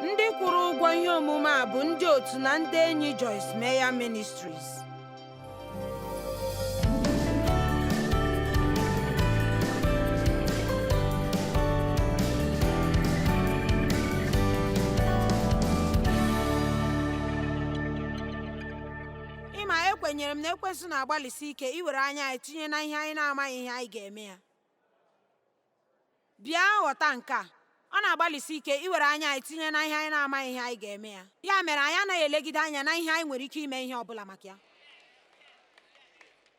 ndị kwụrụ ụgwọ ihe omume a bụ ndị otu na ndị enyi Joyce Meyer Ministries ịma ekwenyere m na ekwensu na-agbalịsi ike iwere anya anyị tinye na ihe anyị na-amaghị ihe anyị ga-eme ya Bịa ghọta nke a, ọ na-agbalịsi ike iwere anya anyị tinye na ihe anyị na-amaghị ihe anyị ga-eme ya. Ya mere anyị anaghị elegide anya na ihe anyị nwere ike ime ihe ọ bụla maka ya.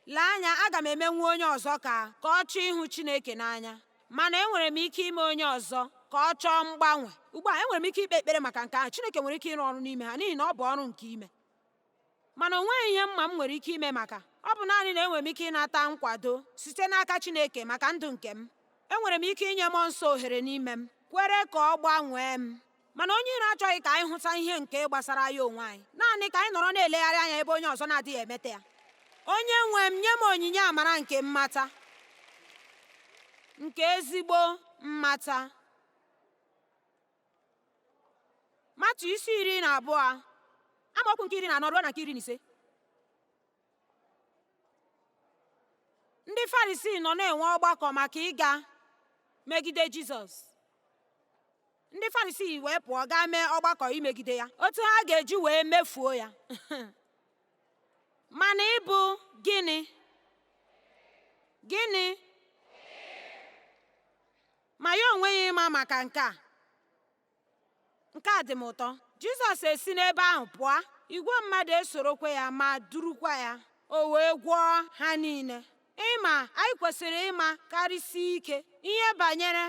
Lee anya, aga m emenwu onye ọzọ ka ka ọ chọọ ịhụ Chineke n'anya. Mana enwere m ike ime onye ọzọ ka ọ chọọ mgbanwe. Ugbu a, enwere m ike ikpe ekpere maka nke ahụ. Chineke nwere ike ịrụ ọrụ n'ime ha n'ihi na ọ bụ ọrụ nke ime. Mana o nweghị ihe mma m nwere ike ime maka ọ bụ naanị na enwere m ike ịnata nkwado site n'aka Chineke maka ndụ nke m. Enwere m ike inye mmụọ nsọ ohere n'ime m, kwere ka ọ gbanwee m. Mana onye iro achọghị ka anyị hụta ihe nke gbasara anyị onwe anyị, naanị ka anyị nọrọ na-elegharị anya ebe onye ọzọ na-adịghị emeta ya. Onye nwe m, nye m onyinye amara nke mmata, nke ezigbo mmata. matu isi iri na abụọ amaokwu nke iri na anọ ruo na nke iri na ise ndị farisii nọ na-enwe ọgbakọ maka ịga megide jizọs ndị farisii wee pụọ gaa mee ọgbakọ imegide ya otu ha ga-eji wee mefuo ya mana ịbụ gịnị gịnị Ma ya onwe ya ịma maka nke a, nke a dị m ụtọ. Jizọs esi n'ebe ahụ pụọ, igwe mmadụ esorokwa ya ma durukwa ya, o wee gwọọ ha niile. Ịma anyị kwesịrị ịma karịsịa ike ihe banyere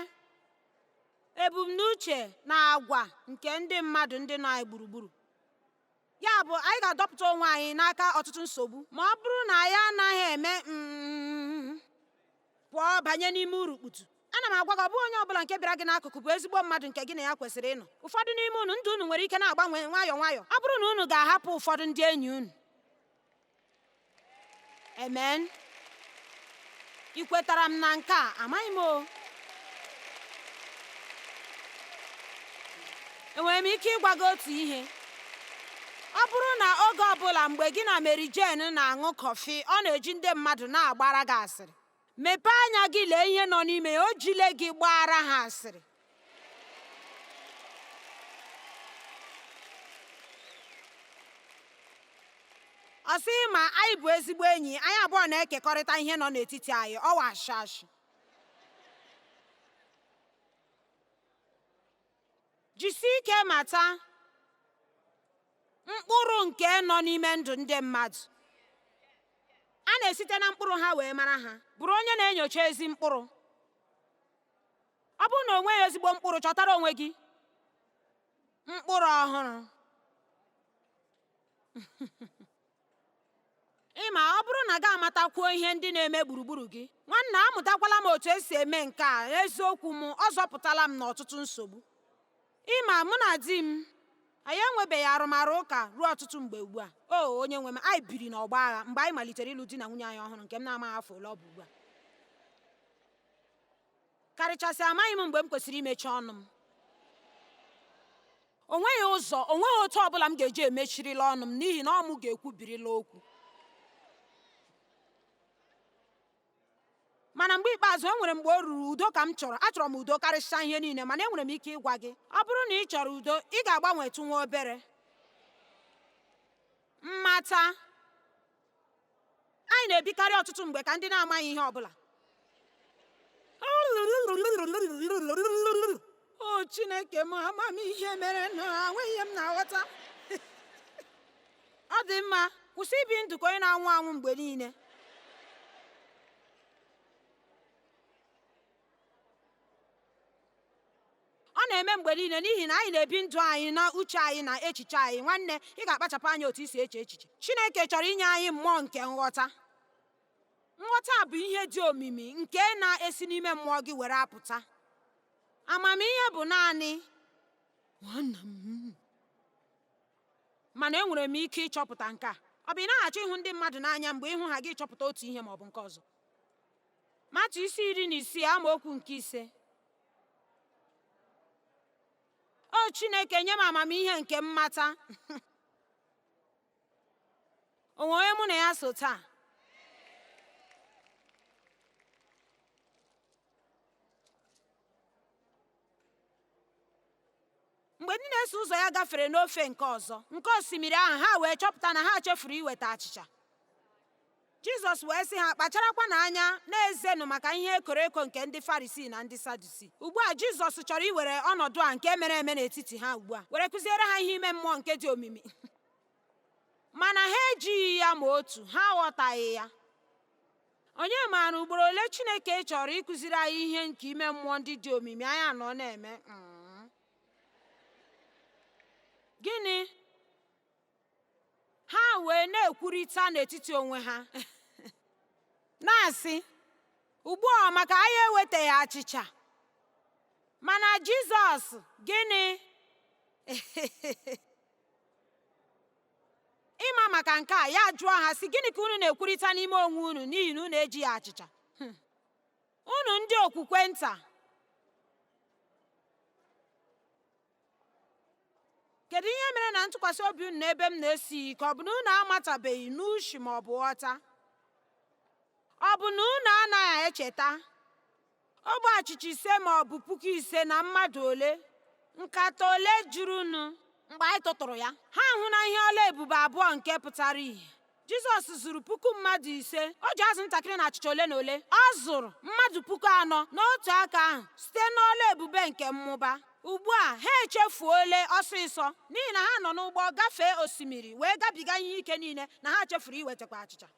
ebumnuche na agwa nke ndị mmadụ ndị nọ anyị gburugburu. Ya bụ, anyị ga-adọpụta onwe anyị n'aka ọtụtụ nsogbu ma ọ bụrụ na anyị anaghị eme um pụọ banye n'ime urukputu ana m agwa gị ọ bụghị onye ọbụla nke bịara gị n'akụkụ bụ ezigbo mmadụ nke gị na ya kwesịrị ịnọ ụfọdụ n'ime unu ndụ unu nwere ike na-agbanwe nwayọọ nwayọọ ọ bụrụ na unu ga-ahapụ ụfọdụ ndị enyi unu amen ị kwetara m na nke a amaghị m o enwere m ike ịgwa gị otu ihe ọ bụrụ na oge ọbụla mgbe gị na Mary Jane na-aṅụ kọfị ọ na-eji ndị mmadụ na-agbara gị asịrị mepee anya gị lee ihe nọ n'ime ya o jile gị gbaara ha asịrị ọ sị ma anyị bụ ezigbo enyi anyị abụọ na-ekekọrịta ihe nọ n'etiti anyị ọ wụ ashị ashị jisie ike mata mkpụrụ nke nọ n'ime ndụ ndị mmadụ a na-esite na mkpụrụ ha wee mara ha bụrụ onye na-enyocha ezi mkpụrụ ọ bụrụ na o nweghị ezigbo mkpụrụ chọtara onwe gị mkpụrụ ọhụrụ ị ma ọ bụrụ na gị amatakwuo ihe ndị na-eme gburugburu gị nwanna amụtakwala m otu e si eme nke a eziokwu m ọ zọpụtala m n'ọtụtụ nsogbu ị ma mụ na di m anyị enwebeghị arụmarụ ụka ruo ọtụtụ mgbe ugbu a o onye nwe m anyị biri n'ọgbọ agha mgbe anyị malitere ịlụ di na nwunye anyị ọhụrụ nke m na-amaghị afọ ole ọ bụ ugbu a karịchasị amaghị m mgbe m kwesịrị imechi ọnụ m o nweghị ụzọ o nweghị otu ọ bụla m ga-eji emechirila ọnụ m n'ihi na ọ mụ ga-ekwubirila okwu mana mgbe ikpeazụ e nwere mgbe o ruru udo ka m chọrọ achọrọ m udo karịsịa ihe niile mana enwere m ike ịgwa gị ọ bụrụ na ị chọrọ udo ị ga-agbanwetụ nwa obere mmata Anyị na-ebikarị ọtụtụ mgbe ka ndị na-amaghị ihe ọ bụla. O Chineke m, ama m ihe mere na enweghị ihe m na-aghọta. Ọ dị mma, kwụsị ibi ndụ ka onye na-anwụ anwụ mgbe niile. ọ na-eme mgbe niile n'ihi na anyị na-ebi ndụ anyị na uche anyị na echiche anyị nwanne ị ga-akpachapụ anya otu i si eche echiche chineke chọrọ inye anyị mmụọ nke nghọta nghọta bụ ihe dị omimi nke na-esi n'ime mmụọ gị were apụta amamihe bụ naanị nwanna m mana enwere m ike ịchọpụta nke a ọ bụ ị na-achọ ịhụ ndị mmadụ n'anya mgbe ị hụ ha gị chọpụta otu ihe ma ọ bụ nke ọzọ matiu isi iri na isii amaokwu nke ise o chineke nye m amamihe nke mmata o nwe onye mụ na ya so taa mgbe ndị na-eso ụzọ ya gafere n'ofe nke ọzọ nke osimiri ahụ ha wee chọpụta na ha chefuru iweta achịcha jizọs wee sị ha kpacharakwanụ anya na-ezenụ maka ihe ekoro eko nke ndị farisii na ndị sadusii ugbu a jizọs chọrọ iwere ọnọdụ a nke mere eme n'etiti ha ugbu a were kụziere ha ihe ime mmụọ nke dị omimi mana ha ejighị ya ma otu ha aghọtaghị ya Onye maara ugboro ole Chineke chọrọ ịkụziri anyị ihe nke ime mmụọ ndị dị omimi anyị anọ na-eme? Mm. Gịnị? Ha wee na-ekwurịta n'etiti onwe ha, na-asị, Ugbu a maka anyị ewetaghị achịcha. Mana Jizọs, gịnị? ịma maka nke a ya jụọ ha sị gịnị ka unu na-ekwurịta n'ime onwe unu n'ihi na unu ejighị achịcha hmm. unu ndị okwukwe nta kedu ihe mere na ntụkwasị obi unu n'ebe m nọ esighị ike ọ bụ na unu amatabeghị n'uche ma ọ bụ ghọta ọ bụ na unu anaghị echeta Ogbe achịcha ise ma ọ bụ puku ise na mmadụ ole, nkata ole jurunụ. Mgbe anyị tụtụrụ ya, ha ahụna ihe ọlụ ebube abụọ nke pụtara ihe. Jizọs zụrụ puku mmadụ ise, o ji azụ ntakịrị na achịcha ole na ole. Ọ zụrụ mmadụ puku anọ n'otu aka ahụ site n'ọlụ ebube nke mmụba. Ugbu a ha echefuole ọsịsọ n'ihi na ha nọ n'ụgbọ gafee osimiri wee gabiga ihe ike niile na ha chefuru iwetakwa achịcha.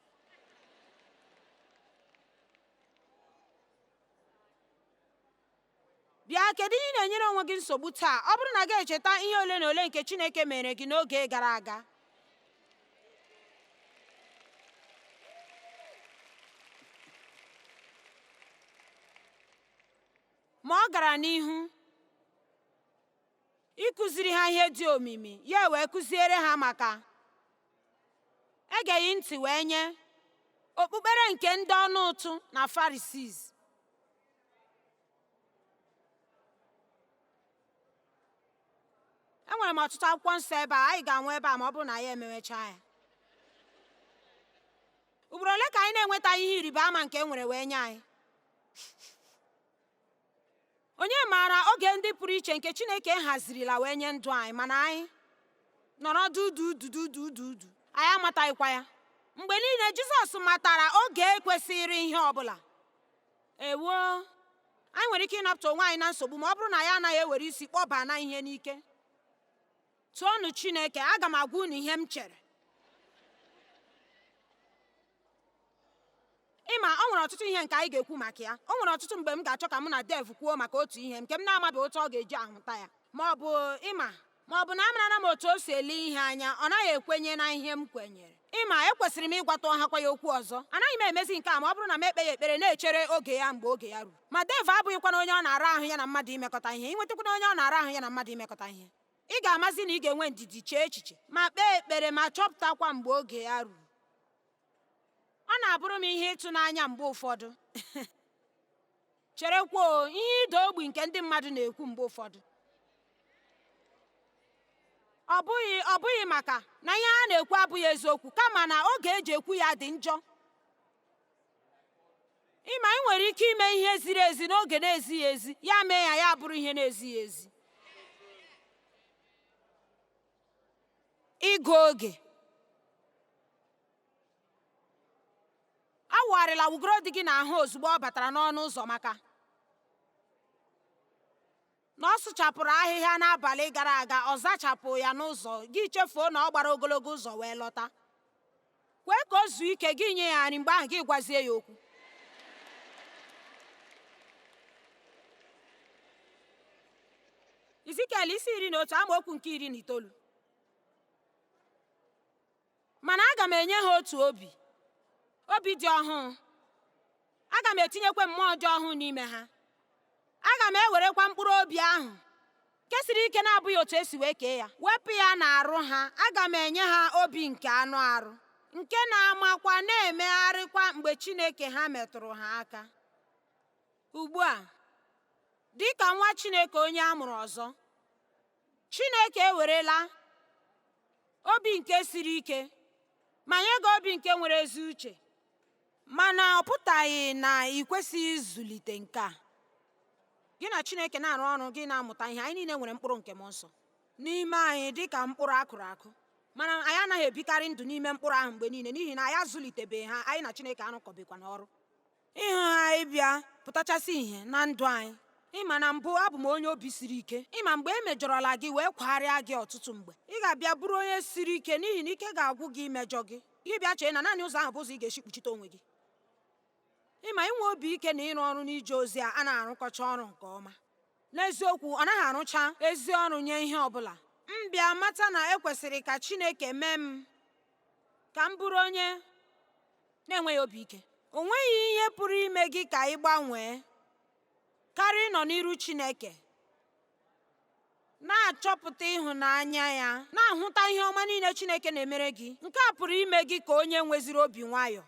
bịa kedu ihe ị na-enyere onwe gị nsogbu taa ọ bụrụ na gị echeta ihe ole na ole nke chineke meere gị n'oge gara aga ma ọ gara n'ihu ịkụziri ha ihe dị omimi ya wee kụziere ha maka egeghị ntị wee nye okpukpere nke ndị ọnụ ụtụ na farisis enwere m ọtụtụ akwụkwọ nsọ ebe a anyị ga-anwụ ebe a ma ọ bụrụ na anyị emewecha ya ugboro ole ka anyị na-enweta ihe ịrịba ama nke e nwere wee nye anyị onye maara oge ndị pụrụ iche nke chineke hazirila wee nye ndụ anyị mana anyị nọrọ dudududududu anyị amataghịkwa ya mgbe niile jizọs matara oge kwesịrị ihe ọbụla ewo anyị nwere ike ịnapụta onwe anyị na nsogbu ma ọ bụrụ na anyị anaghị ewere isi kpọba na ihe n'ike Toonụ Chineke, aga m agwa unu ihe m chere. Ịma o nwere ọtụtụ ihe nke anyị ga-ekwu maka ya. O nwere ọtụtụ mgbe m ga-achọ ka mụ na Dev kwuo maka otu ihe nke m na-amabeghị otu ọ ga-eji ahụta ya. Ma ọ bụ ịma ma ọ bụ na amarana m otu o si ele ihe anya ọ naghị ekwenye na ihe m kwenyere ịma ekwesịrị m ịgwata ọhakwa ya okwu ọzọ anaghị m emezi nke a ma ọ bụrụ na m ekpe ya ekpere na-echere oge ya mgbe oge ya ruru ma dev abụghịkwana onye ọ na-ara ahụ ya na mmadụ imekọta ihe ịnwetakwana onye ọ na-ara ahụ ya na mmadụ imekọta ihe Ị ga-amazi na ị ga-enwe ndidi chee echiche ma kpee ekpere ma chọpụtakwa mgbe oge ya ruru. Ọ na-abụrụ m ihe ịtụnanya mgbe ụfọdụ cherekwuo ihe ịda ogbi nke ndị mmadụ na-ekwu mgbe ụfọdụ ọ bụghị maka na ihe ha na-ekwu abụghị eziokwu kama na oge eji ekwu ya dị njọ ịma ị nwere ike ime ihe ziri ezi n'oge na-ezighị ezi ya mee ya ya bụrụ ihe na-ezighị ezi ịgụ oge awụgharịla wụgoro di gị n'ahụ ozugbo ọ batara n'ọnụ ụzọ maka na ọ sụchapụrụ ahịhịa n'abalị gara aga ọ zachapụ ya n'ụzọ gị chefuo na ọ gbara ogologo ụzọ wee lọta kwee ka o zuo ike gị nye ya nri mgbe ahụ gị gwazie ya okwu izikiel isi iri na otu amaokwu nke iri na itoolu Mana aga m enye ha otu obi, obi dị ọhụụ. Aga m etinyekwa mmụọ dị ọhụụ n'ime ha. Aga m ewerekwa mkpụrụ obi ahụ kesiri ike na-abụghị otu esi wee kee ya wepụ ya n'arụ ha. Aga m enye ha obi nke anụ arụ nke na-amakwa na-emegharịkwa mgbe Chineke ha metụrụ ha aka. Ugbu a, dị ka nwa Chineke onye a mụrụ ọzọ, Chineke ewerela obi nke siri ike ma nye gị obi nke nwere ezi uche mana ọ pụtaghị na ị kwesịghị ịzụlite nke a gị na Chineke na-arụ ọrụ gị na-amụta ihe anyị niile nwere mkpụrụ nke mmụọ nsọ n'ime anyị dị ka mkpụrụ a kụrụ akụ mana anyị anaghị ebikarị ndụ n'ime mkpụrụ ahụ mgbe niile n'ihi na anyị azụlitebeghị ha anyị na Chineke arụkọbeghịkwa n'ọrụ ịhụ ha ịbịa pụtachasị ihe na ndụ anyị ịma na mbụ abụ m onye obi siri ike ịma mgbe e mejọrọla gị wee kwagharịa gị ọtụtụ mgbe ị ga-abịa bụrụ onye siri ike n'ihi na ike ga-agwụ gị imejọ gị gị bịa chee na naanị ụzọ ahụ bụ ụzọ ị ga-esi kpuchite onwe gị ịma inwe obi ike na ịrụ ọrụ n'ije ozi a anaghị arụkọcha ọrụ nke ọma n'eziokwu ọ naghị arụcha ezi ọrụ nye ihe ọ bụla m bịa mata na ekwesịrị ka Chineke mee m ka m bụrụ onye na-enweghị obi ike o nweghị ihe pụrụ ime gị ka ị gbanwee karịa ịnọ n'iru Chineke na-achọpụta ịhụnanya ya na-ahụta ihe ọma niile Chineke na-emere gị nke a pụrụ ime gị ka onye nweziri obi nwayọọ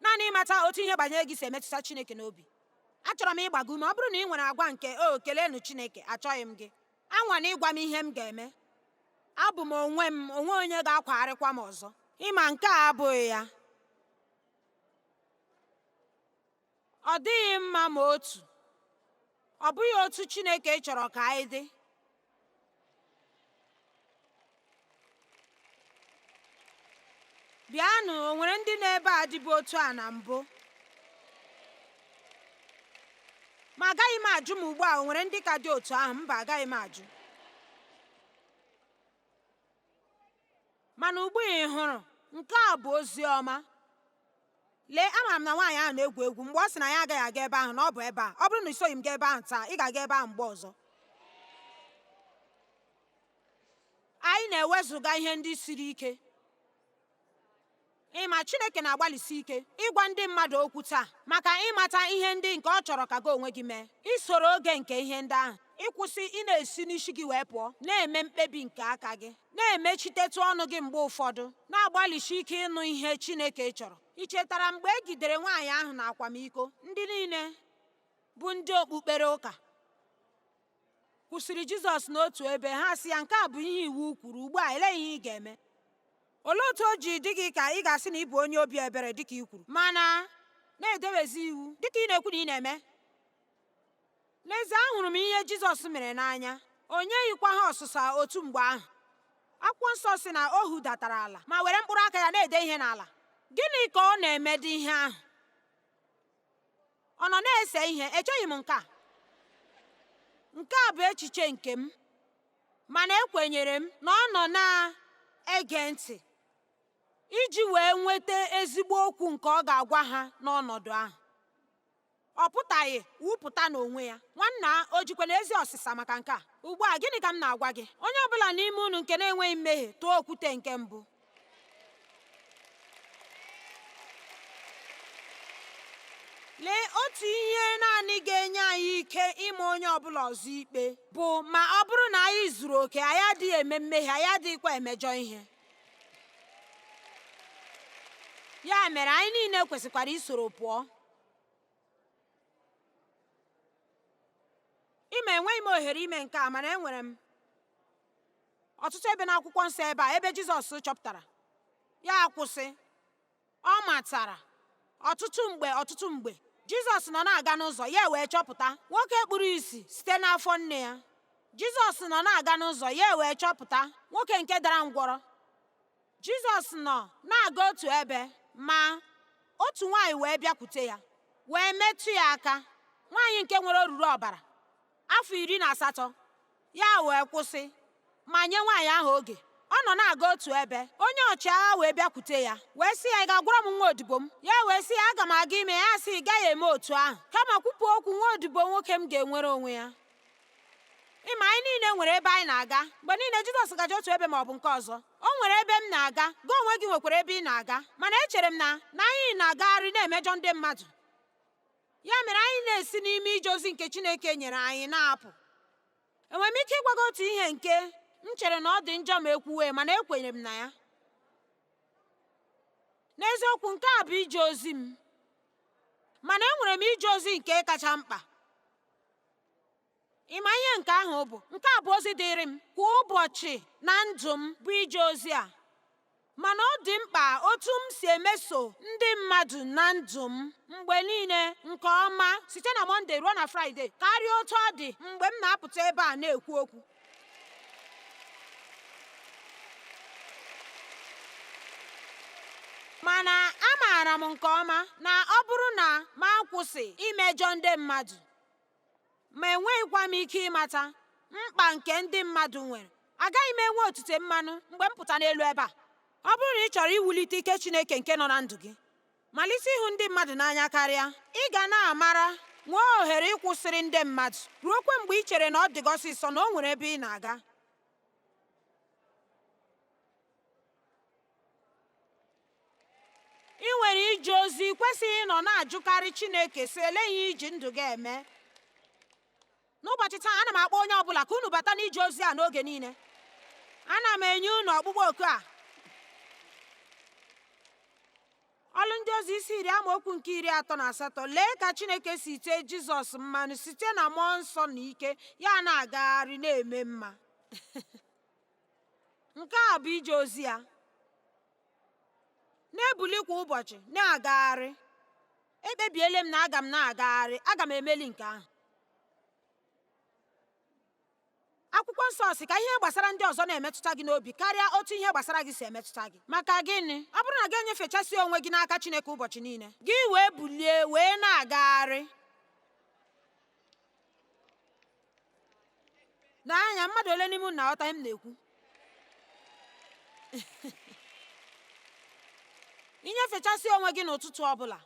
naanị ịmata otu ihe banyere gị si emetụta Chineke n'obi achọrọ m ịgba gị ume ọ bụrụ na ị nwere agwa nke o keleenụ Chineke achọghị m gị anwana ịgwa m ihe m ga-eme abụ m onwe m o nweghị onye ga-akwagharịkwa m ọzọ ị ma nke a abụghị ya ọ dịghị mma ma otu ọ bụghị otu Chineke chọrọ ka anyị dị bịanụ o nwere ndị nọ ebe a dịbu otu a na mbụ ma agaghị m ajụ m ugbu a o nwere ndị ka dị otu ahụ mba agaghị m ajụ mana ugbu a ị hụrụ nke a bụ ozi ọma lee ama m na nwaanyị ahụ na-egwu egwu mgbe ọ sị na ya agaghị aga ebe ahụ na ọ bụ ebe a ọ bụrụ na i soghị m gaa ebe ahụ taa ị ga-aga ebe ahụ mgbe ọzọ anyị na-ewezuga ihe ndị siri ike ị ma Chineke na-agbalịsi ike ịgwa ndị mmadụ okwu taa maka ịmata ihe ndị nke ọ chọrọ ka gị onwe gị mee isoro oge nke ihe ndị ahụ ịkwụsị ị na-esi n'isi gị wee pụọ na-eme mkpebi nke aka gị na-emechitetụ ọnụ gị mgbe ụfọdụ na-agbalịsi ike ịnụ ihe Chineke chọrọ i chetara mgbe e jidere nwaanyị ahụ na akwamiko ndị niile bụ ndị okpukpere ụka kwụsịrị Jizọs n'otu ebe ha sị ya nke a bụ ihe iwu kwuru ugbu a elee ihe ị ga-eme olee otu o ji dị gị ka ị ga-asị na ị bụ onye obi ebere dịka i kwuru mana na-edewezi iwu dịka ị na-ekwu na ị na-eme n'ezie ahụrụ m ihe Jizọs mere n'anya o nyeghịkwa ha ọsịsa otu mgbe ahụ akwụkwọ nsọ sị na o hudatara ala ma were mkpụrụ aka ya na-ede ihe n'ala gịnị ka ọ na-emedị ihe ahụ ọ nọ na-ese ihe echeghị m nke a nke a bụ echiche nke m mana ekwenyere m na ọ nọ na-ege ntị iji wee nweta ezigbo okwu nke ọ ga-agwa ha n'ọnọdụ ahụ ọ pụtaghị wụpụta n'onwe ya nwanna o jikwanụ ezi ọsịsa maka nke a ugbu a gịnị ka m na-agwa gị onye ọbụla n'ime unu nke na-enweghị mmehie tụọ okwute nke mbụ lee otu ihe naanị ga-enye anyị ike ịma onye ọbụla ọzọ ikpe bụ ma ọ bụrụ na anyị zuru oke anyị adịghị eme mmehie anyị adịghịkwa emejọ ihe ya mere anyị niile kwesịkwara isoro pụọ ị ma enweghị m ohere ime nke a mana enwere m ọtụtụ ebe n'akwụkwọ nsọ ebe a ebe Jizọs chọpụtara ya akwụsị ọ matara ọtụtụ mgbe ọtụtụ mgbe Jizọs nọ na-aga n'ụzọ ya wee chọpụta nwoke kpuru isi site n'afọ nne ya Jizọs nọ na-aga n'ụzọ ya wee chọpụta nwoke nke dara ngwọrọ Jizọs nọ na-aga otu ebe ma otu nwaanyị wee bịakwute ya wee metụ ya aka nwaanyị nke nwere oruru ọbara afọ iri na asatọ ya wee kwụsị ma nye nwaanyị ahụ oge ọ nọ na-aga otu ebe onye ọchịagha wee bịakwute ya wee sị ya ị ga-agwọrọ m nwa odibo m ya wee sị ya aga m aga ime ya sị ị gaghị eme otu ahụ kama kwupụ okwu nwa odibo nwoke m ga-enwere onwe ya ịma anyị niile nwere ebe anyị na-aga mgbe niile Jizọs gaje otu ebe ma ọ bụ nke ọzọ o nwere ebe m na-aga gị onwe gị nwekwara ebe ị na-aga mana echere m na na anyị na-agagharị na-emejọ ndị mmadụ ya mere anyị na-esi n'ime ije ozi nke Chineke nyere anyị na-apụ enwere m ike ịgwa gị otu ihe nke m chere na ọ dị njọ ma ekwuwe mana ekwenyere m na ya n'eziokwu nke a bụ ije ozi m mana enwere m ije ozi nke kacha mkpa Ị ma ihe nke ahụ bụ? Nke a bụ ozi dịịrị m kwa ụbọchị na ndụ m bụ ije ozi a. Mana ọ dị mkpa otu m si emeso ndị mmadụ na ndụ m mgbe niile nke ọma site na Mọnde ruo na Fraịde karịa otu ọ dị mgbe m na-apụta ebe a na-ekwu okwu. mana amaara m nke ọma na ọ bụrụ na m akwụsị imejọ ndị mmadụ ma enweghịkwa m ike ịmata mkpa nke ndị mmadụ nwere agaghị m enwe otute mmanụ mgbe m pụta n'elu ebe a ọ bụrụ na ị chọrọ iwulite ike Chineke nke nọ na ndụ gị malite ịhụ ndị mmadụ n'anya karịa ị ga na-amara nwee ohere ịkwụsịrị ndị mmadụ ruokwa mgbe ị chere na ọ dị gị ọsịsọ na o nwere ebe ị na-aga Ị nwere ije ozi i kwesịghị ịnọ na-ajụkarị Chineke sị elee ihe iji ndụ gị eme n'ụbọchị taa ana m akpọ onye ọbụla ka unu bata n'ije ozi a n'oge niile ana m enye unu ọkpụkpọ oku a ọlụ ndị ozi isi iri amaokwu nke iri atọ na asatọ lee ka Chineke si tee Jizọs mmanụ site na mmụọ nsọ na ike ya na-agagharị na-eme mma nke a bụ ije ozi ya na-ebuli kwa ụbọchị na-agagharị ekpebiele m na aga m na-agagharị aga m emeli nke ahụ akwụkwọ nsọ sị ka ihe gbasara ndị ọzọ na-emetụta gị n'obi karịa otu ihe gbasara gị si emetụta gị maka gịnị ọ bụrụ na gị enyefechasị onwe gị n'aka Chineke ụbọchị niile gị wee bulie wee na-agagharị n'anya mmadụ ole n'ime unu na-aghọta ihe m na-ekwu inyefechasị onwe gị n'ụtụtụ ọbụla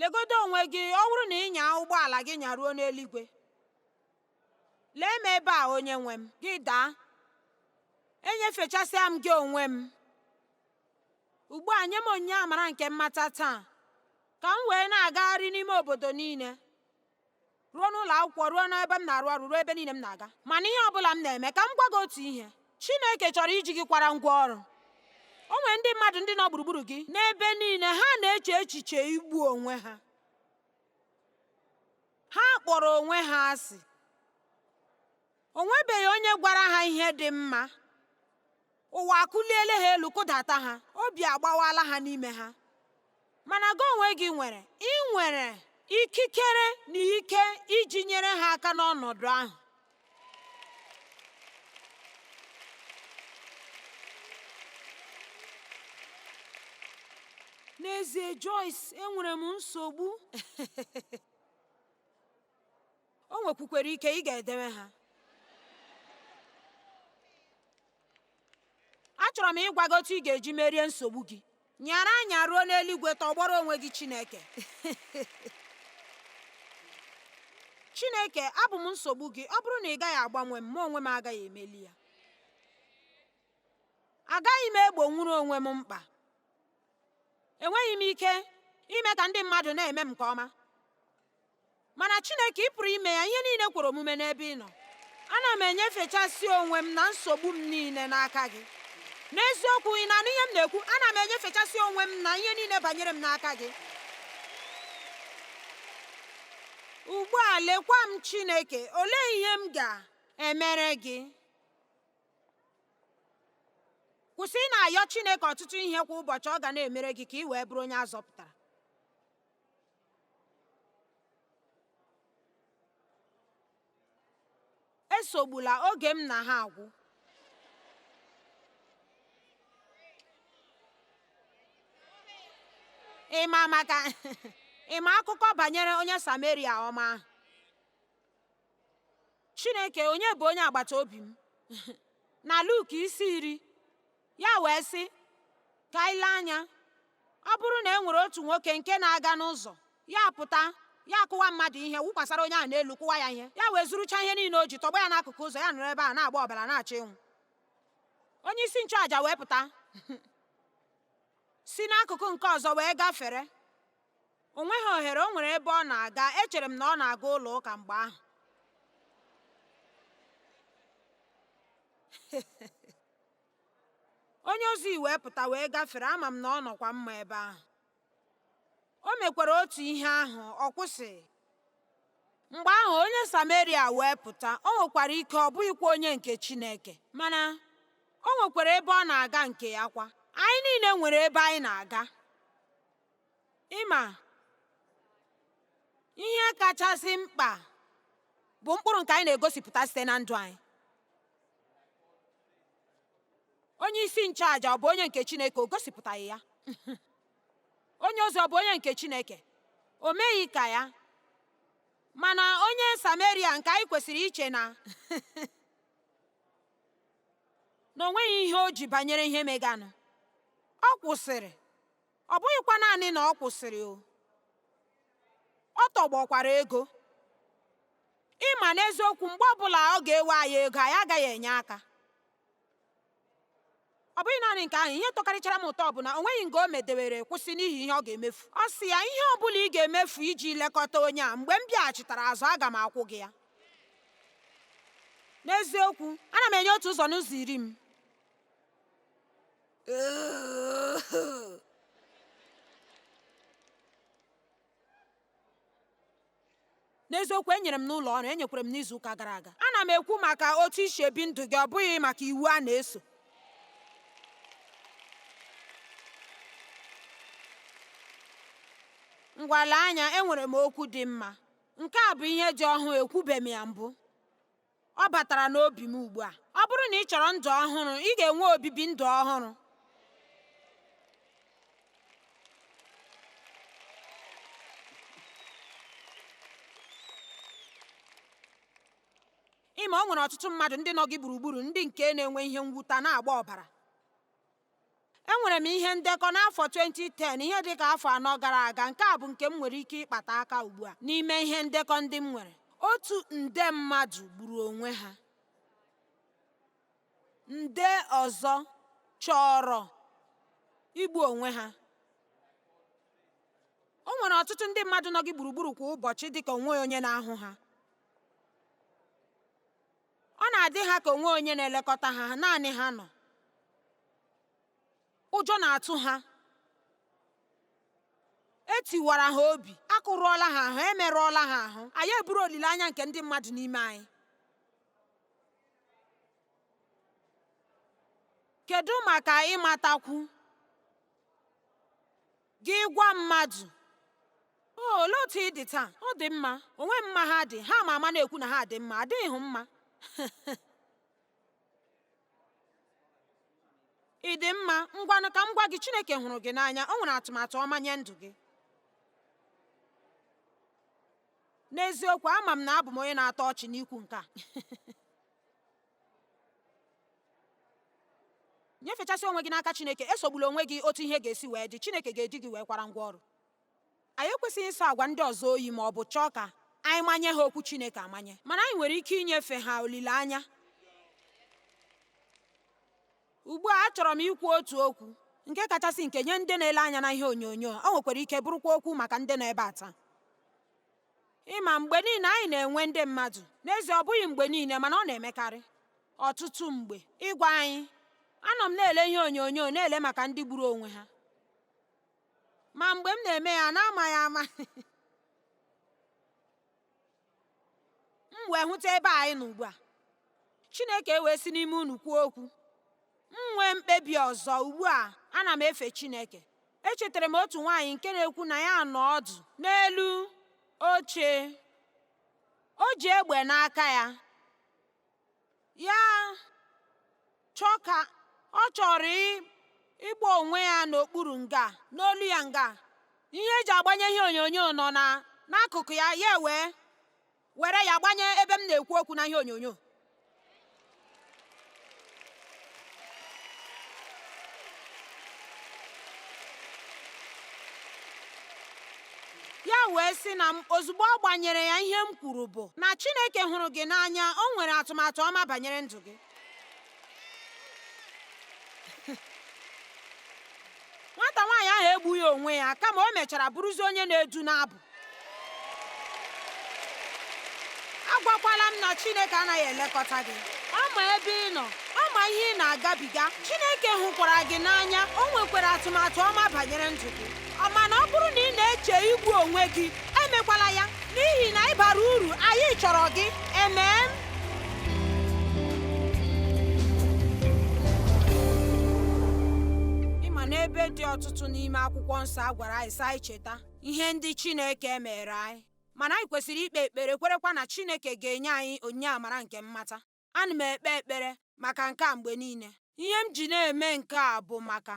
legodo onwe gị ọ bụrụ na ị nyaa ụgbọala gị nyaruo n'eluigwe lee m ebe a onye nwe m gị daa enyefechasịa m gị onwe m ugbu a nye m onyinye amara nke mmata taa ka m wee na-agagharị n'ime obodo niile ruo n'ụlọ akwụkwọ ruo n'ebe m na-arụ ọrụ ruo ebe niile m na-aga mana ihe ọ bụla m na-eme ka m gwa gị otu ihe Chineke chọrọ iji gị kwara ngwa ọrụ o nwere ndị mmadụ ndị nọ gburugburu gị n'ebe niile ha na-eche echiche igbu onwe ha ha kpọrọ onwe ha asị o nwebeghị onye gwara ha ihe dị mma ụwa akụliele ha elu kụdata ha obi agbawala ha n'ime ha mana gị onwe gị nwere ị nwere ikikere na ike iji nyere ha aka n'ọnọdụ ahụ n'ezie Joyce enwere m nsogbu O nwekwukwere ike ị ga-edewe ha. Achọrọ m ịgwa gị otu ị ga-eji merie nsogbu gị. Nyara anya ruo n'eluigwe tọgbọrọ onwe gị Chineke. Chineke, abụ m nsogbu gị. Ọ bụrụ na ị gaghị agbanwe m, mụ onwe m agaghị emeli ya. Agaghị m egbonwuru onwe m mkpa. Enweghị m ike ime ka ndị mmadụ na-eme m nke ọma. mana Chineke ị pụrụ ime ya ihe niile kwere omume n'ebe ị nọ ana m enyefechasị onwe m na nsogbu m niile n'aka gị n'eziokwu ị na-anụ ihe m na-ekwu ana m enyefechasị onwe m na ihe niile banyere m n'aka gị ugbu a lekwa m Chineke olee ihe m ga-emere gị kwụsị ị na-ayọ Chineke ọtụtụ ihe kwa ụbọchị ọ ga na-emere gị ka ị wee bụrụ onye a zọpụtara esogbula oge m na ha agwụ ị ma maka ị ma akụkọ banyere onye sameria ọma ahụ chineke onye bụ onye agbata obi m na luk isi iri Ya wee sị, Ka anyị lee anya. Ọ bụrụ na e nwere otu nwoke nke na-aga n'ụzọ, ya apụta, ya akụwa mmadụ ihe, wụkwasara onye ahụ n'elu, kụwa ya ihe, ya wee zurucha ihe niile o ji, tọgbọ ya n'akụkụ ụzọ, ya nọrọ ebe ahụ na-agba ọbara na-achọ ịnwụ. Onye isi nchụaja wee pụta, si n'akụkụ nke ọzọ wee gafere. o nweghị ohere o nwere ebe ọ na-aga echere m na ọ na-aga ụlọ ụka mgbe ahụ onye ozi wee pụta wee gafere ama m na ọ nọkwa mma ebe ahụ o mekwara otu ihe ahụ ọ kwụsịghị mgbe ahụ onye sameria wee pụta o nwekwara ike ọ bụghịkwa onye nke chineke mana o nwekwara ebe ọ na-aga nke ya kwa anyị niile nwere ebe anyị na-aga ịma ihe kachasị mkpa bụ mkpụrụ nke anyị na-egosipụta site na ndụ anyị onye isi nchụaja ọ bụ onye nke chineke o gosipụtaghị ya onye ozi ọ bụ onye nke chineke o meghị ka ya mana onye sameria nke anyị kwesịrị iche na na o nweghị ihe o ji banyere ihe meganụ ọ kwụsịrị ọ bụghịkwa naanị na ọ kwụsịrị ọ tọgbọkwara ego ịma n'eziokwu mgbe ọbụla ọ ga-ewe anyị ego anyị agaghị enye aka ọ bụghị naanị nke ahụ ihe tọkarịchara m ụtọ bụ na o nweghị nga o medewere kwụsị n'ihi ihe ọ ga-emefu ọ sị ya ihe ọ bụla ị ga-emefu iji lekọta onye a mgbe m bịaghachitara azụ aga m akwụ gị ya n'eziokwu ana m enye otu ụzọ n'ụzọ iri m n'eziokwu enyere m n'ụlọ ọrụ enyekwara m n'izu ụka gara aga ana m ekwu maka otu i si ebi ndụ gị ọ bụghị maka iwu a na-eso ngwa lee anya enwere m okwu dị mma nke a bụ ihe dị ọhụụ ekwubeghị m ya mbụ Ọ batara n'obi m ugbu a. Ọ bụrụ na ị chọrọ ndụ ọhụrụ, ị ga-enwe obibi ndụ ọhụrụ. Ị ma o nwere ọtụtụ mmadụ ndị nọ gị gburugburu ndị nke na-enwe ihe mwuta na-agba ọbara. enwere m ihe ndekọ n'afọ 2010 ihe dị ka afọ anọ gara aga nke a bụ nke m nwere ike ịkpata aka ugbu a n'ime ihe ndekọ ndị m nwere otu nde mmadụ gburu onwe ha nde ọzọ chọrọ igbu onwe ha o nwere ọtụtụ ndị mmadụ nọ gị gburugburu kwa ụbọchị dịka o nweghị onye na-ahụ ha Ọ na-adị ha ka o nweghị onye na-elekọta ha, naanị ha nọ. Ụjọ na-atụ ha. E tiwara ha obi, a kụrụọla ha ahụ, e merụọla ha ahụ. Anyị eburu olileanya nke ndị mmadụ n'ime anyị. Kedu maka ịmatakwu? Gị gwa mmadụ, O, olee otu ị dị taa? Ọ dị mma. O nweghị mma ha dị, ha ma ama na-ekwu na ha dị mma, adịhụ mma. Ị dị mma, ngwanụ ka m gwa gị, Chineke hụrụ gị n'anya, o nwere atụmatụ ọma nye ndụ gị. N'eziokwu, ama m na abụ m onye na-atọ ọchị n'ikwu nke a. nyefechasị onwe gị n'aka Chineke esogbula onwe gị otu ihe ga-esi wee dị Chineke ga-eji gị wee kwara ngwa ọrụ anyị ekwesịghị ịsọ agwa ndị ọzọ oyi ma ọ bụ chọọ ka anyị manye ha okwu Chineke amanye mana anyị nwere ike inyefe ha olileanya ugbu a achọrọ m ikwu otu okwu nke kachasị nke nye ndị na-ele anya na ihe onyonyo o nwekwara ike bụrụkwa okwu maka ndị nọ ebe a taa ịma mgbe niile anyị na-enwe ndị mmadụ n'ezie ọ bụghị mgbe niile mana ọ na-emekarị ọtụtụ mgbe ịgwa anyị anọ m na-ele ihe onyonyo na-ele maka ndị gburu onwe ha ma mgbe m na-eme ya na-amaghị ama m wee hụta ebe anyị nọ ugbu a Chineke ewee si n'ime unu kwuo okwu m nwee mkpebi ọzọ ugbu a ana m efe Chineke echetara m otu nwaanyị nke na-ekwu na ya nọ ọdụ n'elu oche o ji egbe n'aka ya ya chọọ ka ọ chọrọ ịgba onwe ya n'okpuru nga n'olu ya nga ihe eji agbanye ihe onyonyo nọ na n'akụkụ ya ya wee were ya gbanye ebe m na-ekwu okwu na ihe onyonyo ya wee sị na m ozugbo ọ gbanyere ya ihe m kwuru bụ na Chineke hụrụ gị n'anya o nwere atụmatụ ọma banyere ndụ gị nwata nwaanyị ahụ egbughị onwe ya kama o mechara bụrụzi onye na-edu n'abụ agwakwala m na Chineke anaghị elekọta gị ọ ma ebe ị nọ ọ ma ihe ị na-agabiga Chineke hụkwara gị n'anya o nwekwara atụmatụ ọma banyere ndụ gị Mana ọ bụrụ na ị na-eche igbu onwe gị, emekwala ya, n'ihi na ị bara uru, anyị chọrọ gị. Amen. Ịma n'ebe dị ọtụtụ n'ime akwụkwọ nsọ a gwara anyị sị anyị cheta ihe ndị Chineke meere anyị mana anyị kwesịrị ikpe ekpere kwerekwa na Chineke ga-enye anyị onyinye amara nke mmata ana m ekpe ekpere maka nke a mgbe niile ihe m ji na-eme nke a bụ maka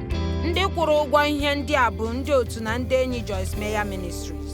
ndị kwụrụ ụgwọ ihe ndị a bụ ndị otu na ndị enyi Joyce Meyer Ministries